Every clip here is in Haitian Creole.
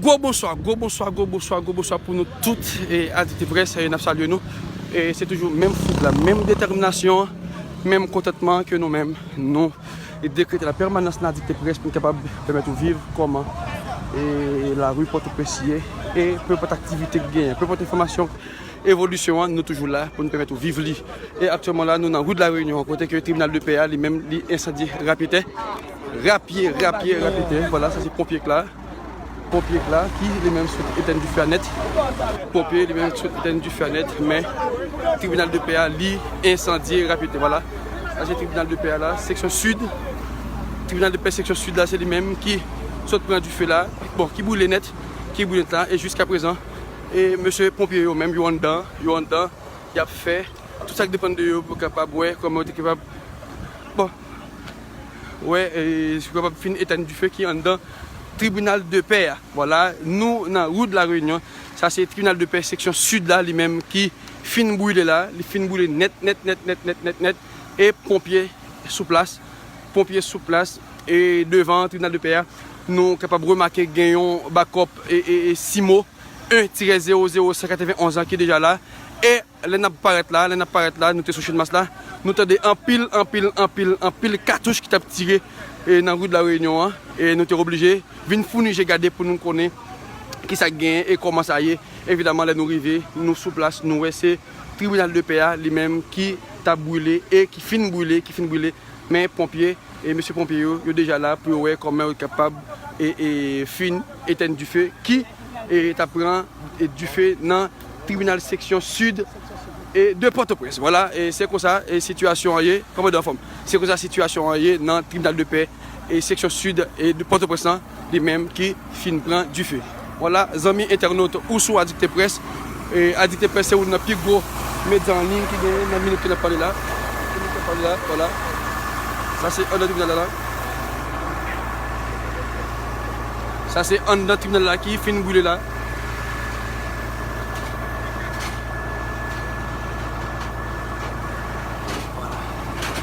Gwo bonswa, gwo bonswa, gwo bonswa, gwo bonswa pou nou tout adikte près e nap salye nou e se toujou menm foug la, menm detèminasyon, menm kontantman ke nou menm nou dekrete la pèmanans nan adikte près pou nou kapab pèmèt ou viv kòman e lari pòtoprens ye e pèpòt aktivite ki genyen, pèpòt enfòmasyon. Evolisyon an, nou toujou la pou n pèmèt ou viv li. E aktyèlman la, nou nan Rue de la Réunion, kote ke Tribinal de Pè a, li menm, li ensandye rapyetè. Rapye, rapye, rapyetè. Vwala, sa se ponpye k la. Ponpye k la, ki li menm sot etèn dife a nèt. Ponpye, li menm, sot etèn dife a nèt. Men, Tribinal de Pè a, li ensandye rapyetè. Vwala. Sa se Tribinal de Pè a la, seksyon Sid. Tribinal de Pè seksyon Sid la, se li menm ki sot pran dife la. Bon, ki boule nèt. Ki boule nèt la. E jiskaprezan. E mesye ponpye yo menm yo anndan, yo anndan, y ap fè tout sa k depann de yo pou yo kapab wè kòman yo te kapab bon wè e si yo kapab fin etenn dife ki anndan tribinal de pè a. Vwala, nou nan rue de la Réunion, sa se tribinal de pè seksyon sid la li menm ki fin brile la, li fin brile nèt nèt nèt nèt nèt nèt nèt e ponpye sou plas, ponpye sou plas e devan tribinal de pè a Nou kapab remake gen yon bakòp Simo 1 tirè 0 0 191 an ki deja la. E lè n ap parèt la, lè n ap parèt la, nou te sou Chenmas la, nou tande anpil, anpil, anpil, anpil katouch ki t ap tire nan ri de la Reyinyon an. E nou te oblije vin founi je gade pou nou konnen ki sa k genyen e kòman sa ye. Evidaman lè nou rive, nou sou plas, nou wè se tribinal de pè a li menm ki t ap brile e ki fin brile, ki fin brile. Men ponpye. E mesye ponpye yo, yo deja la pou yo wè kòman yo kapab fin etèn dife ki ta pran dife nan tribinal seksyon sid de Pòtoprens. Vwala, se konsa sitiyasyon an ye. Kòmandan anfòm? Se konsa sitiyasyon an ye nan tribinal de pè seksyon sid de Pòtoprens lan. Li menm ki fin pran dife. Wala zanmi entènot ou sou Adikte Press. Adikte Press se youn nan pi gwo medya an liy ki genyen nan minit ke n ap pale la. Ke nou fèk pale la. Wala. Sa se anndan tribinal la la. Sa se anndan tribinal la ki fin boule la.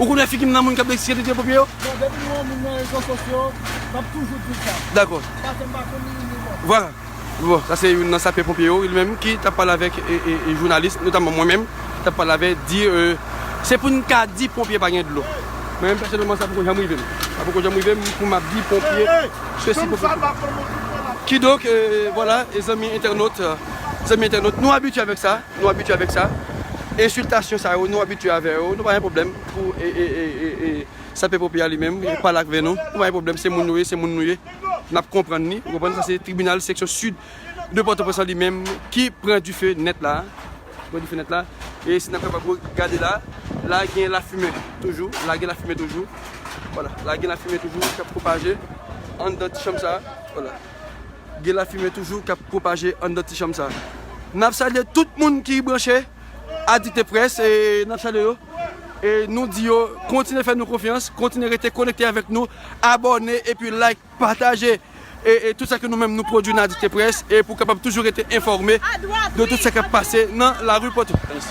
Ou konnen figi m nan moun k ap deksye lide pou pye yo? Bon, depi m wè yon moun nan rezo sosyo, m ap toujou di l sa. Dakò. Paske m pa konn li ni li mwen. Vwala. Bon, sa se youn nan sapè ponpye yo, li menm ki t ap pale avèk jounalis, notamman mwen menm, ki t ap pale avè l, di se pou n ka di ponpye pa gen dlo. Mwen menm pèsonèlman sa poko janm rive m. Sa poko janm rive m pou m ap di ponpye sesi, ponpye sela. Kidonk, vwala, zanmi entènot, zanmi entènot, nou abitye avèk sa. Nou abitye avèk sa. Ensiltasyon sa yo nou abitye avè yo. Nou pa gen pwoblèm pou Sape Pompi a li menm pale akve nou. Nou pa gen pwoblèm. Se moun nou ye, se moun nou ye. N ap konprann li. Ou konprann? Sa se tribinal seksyon sid de Pòtoprens lan li menm ki pran dife nèt la a. Ki pran dife nèt la a. E si n ap kapab gade la, la gen lafimen toujou. La gen lafimen toujou. Wala. La gen lafimen toujou k ap pwopaje anndan ti chanm sa a. Wala. Gen lafimen toujou kap pwopaje anndan ti chanm sa. Nap salye tout moun ki branche a Dikte Press e nap salye yo e nou di yo kontinye fè nou konfyans, kontinye rete konekte avèk nou, abòne epi like, pataje e tout sa ke nou menm nou pwodwi nan Dikte Press e pou kapab toujou rete enfòme de tout sa kap pase nan lari Pòtoprens.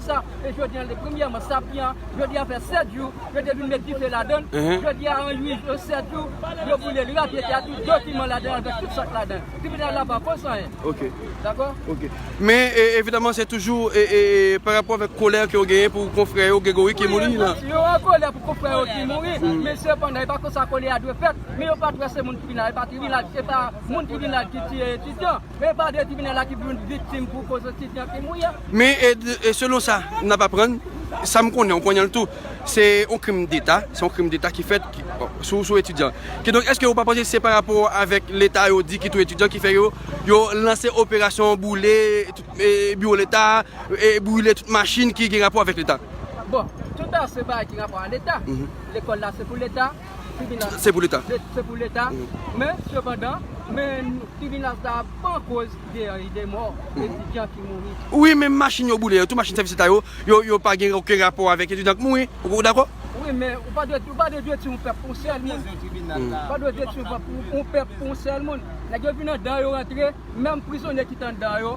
sa e jodi an premyèman sa pi an jodi an fè 7 jou yo te vin met dife ladann jodi an an 8 jou 7 jou yo boulel rèk yo te a tout dokiman ladann avèk tout sak ladann tribinal la pa pòs anyen ok dakò ok men evidaman se toujou e pa rapò avèk kolè ke ou genyen pou konfrè yo Gregory ki mouri la yo an kolè pou konfrè yo ki mouri men sepandan e pa konsa kolè a dwe fèt men yo pat wè se moun tribinal e pa moun tribinal ki tiye etudian Men padre tribinal la ki pou youn viktim pou koz osi fè krim wi. Men selon sa nap aprann, sa m konnen, ou konnen l tou, se yon krim deta, se yon krim deta ki fèt sou etidyan. Kidonk eske ou pa panse se pa rapò avèk leta yo di ki touye etidyan ki fè yo, yo lanse operasyon boule tout biwo leta, boule tout machin ki gen rapò avèk leta? Bon, tout sa se bagay ki gen rapò a leta, lekòl la se pou leta. tribinal se pou leta men sepandan men tribinal sa a pa koz de mò etidyan ki mouri. Wi men machin yo boule yo tou machin sèvis leta yo yo pa gen oken rapò avèk etidyan k mouri ou dakò? Wi men ou pa dwe detui yon pèp pou yon sèl moun ou pa dwe detui yon pèp pou yon sèl moun nèg yo vin andan yo rantre menm prizonye ki t andan yo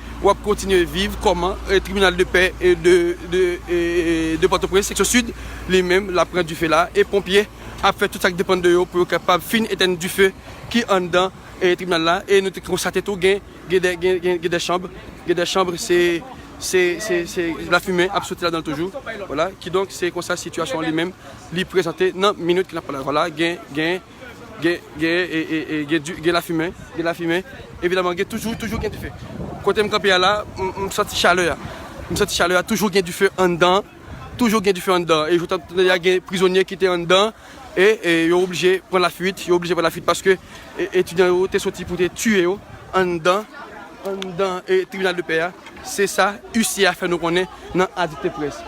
wap kontinye viv kòman tribinal de pè de pòtoprens seksyon sid li menm lap pran dife la e ponpye ap fè tout sak depann de yo pou yo kapab fin etèn dife ki anndan tribinal la e nou te konstate tou gen gen de chanb gen de chanb se se se lafimen ap soti ladanl toujou wala kidonk se konsa sitiyasyon li menm li prezante nan minit ki nan pale la wala gen gen. Gen lafimen, gen lafimen, evidaman gen toujou, toujou gen dife. Kote m kanpe a la, m santi chalè a. M santi chalè a, toujou gen dife anndan, toujou gen dife anndan. E joutan tande ya gen prizonye ki te anndan, e yo oblije pran lafuit, yo oblije pran lafuit paske etidyan yo te soti pou te tiye yo anndan, anndan tribinal de pè a. Se sa huissier a fè nou konnen nan Adit Press.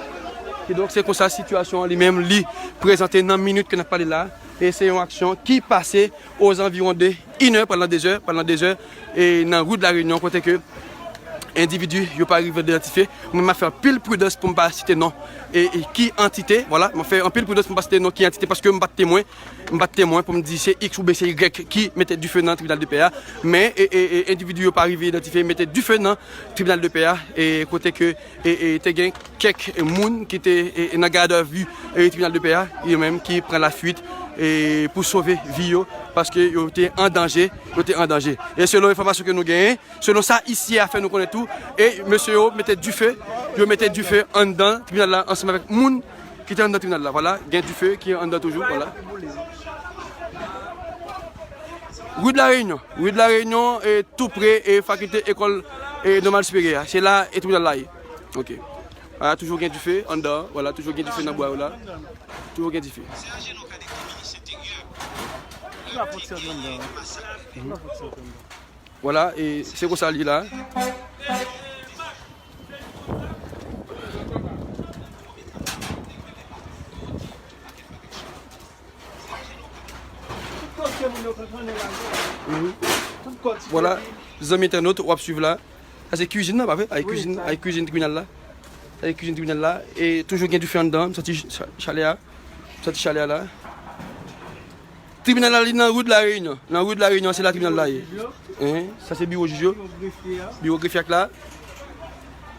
Kidonk se konsa sitiyasyon an li menm li prezante nan minit ke n ap pale la. E se yon aksyon ki pase ozanviwon de inè pandan dezè, pandan dezè e nan rue de la Réunion kote ke endividi yo pa rive deyantifye. Mwen map fè anpil pridans pou m pa site non e ki antite, vwala, map fè anpil pridans pou m pa site non ki antite paske m pat temwen, m pat temwen pou m di se iks oubyen se ygrèk ki mete dife nan tribinal de pè a men e endividi yo pa rive idantifye mete dife nan tribinal de pè a e kote ke. Te gen kèk moun ki te nan gad a vi tribinal de pè a, yo menm ki pran la fuit pou sove vi yo paske yo te an danje, yo te an danje. E selon enfòmasyon ke nou genyen, selon sa isye a fè nou konnen tou, e mesye yo mete dife, yo mete dife anndan tribinal la ansanm avèk moun ki te anndan tribinal la. Vwala, gen dife ki anndan toujou, vwala. Rue de la Réunion, Rue de la Réunion e tou pre e fakilte ekòl e nòmal siperyè a. Se la e tribinal la ye. Ok. A la toujou gen dife anndan an. Wala toujou gen dife nan bwa yo la. Toujou gen dife. Wala e se konsa li ye la. Voilà, zanmi internaute, wap suiv la. Sa se kuzin nan, pa vre? Ay kuzin, ay kuzin tribunal la. Ay kuzin tribunal la. E toujou gen dife anndan, m santi chalè a. M santi chalè a la. Tribunal la li nan rue de la Réunion. Nan rue de la Réunion, se la tribunal la ye. Sa se biro jij yo. Biro grefye ak la.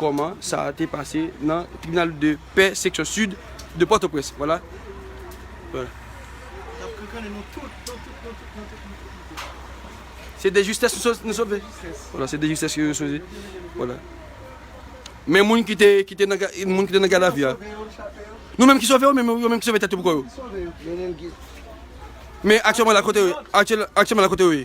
Kòman sa te pase nan tribinal de pè seksyon sid de Pòtoprens. Vwala. Se de jistès nou sove. Vwala, se de jistès ke yo sove. Vwala. Men moun ki te, ki te nan, moun ki te nan gadavi a. Nou menm ki sove yo, menm yo menm ki sove tèt yo pou kò yo. Men aktyèlman la kote yo ye? Aktyèlman la kote yo ye?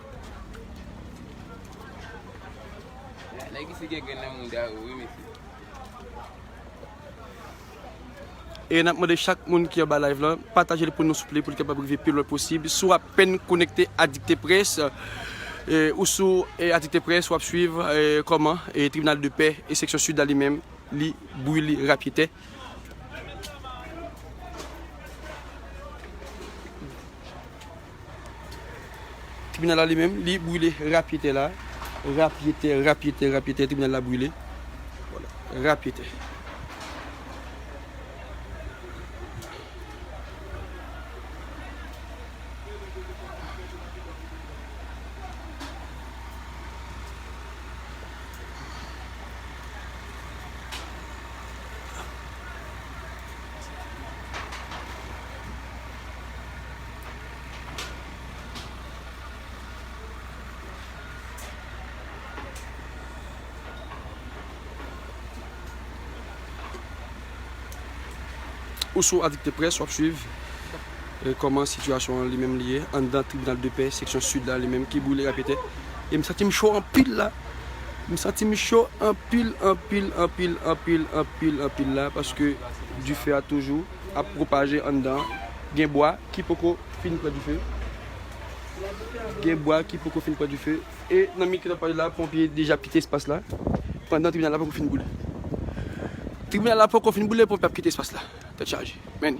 Nèg isi gen grenn nan mouda yo wi mesye. E nap mande chak moun ki anba live lan patajel pou nou souple poul kapab rive pi lwen posib. Si w apenn konekte a dikteprès ou sou a dikteprès wap swiv kòman tribinal de pè e seksyon sid la li menm li bouyi li rapye tè. Tribinal la li menm li brile rapyetè la rapyetè rapyetè rapyetè tribinal la brile rapyetè. Ou sou AdiktePresse, w ap swiv kòman sitiyasyon an li menm li ye anndan tribinal de pè seksyon sid la li menm ki boule rapetè. E m santi m cho anpil la. M santi m cho anpil, anpil, anpil, anpil, anpil, anpil la paske dife a toujou. ap pwopaje anndan an, gen bwa ki poko fin pran dife, gen bwa ki poko fin pran dife e nan mitan tanpaj la ponpye deja ap kite espas la pandan tribinal la poko fin boule. Tribinal la poko fin boule ponpye ap kite espas la. Tèt chaje. Men.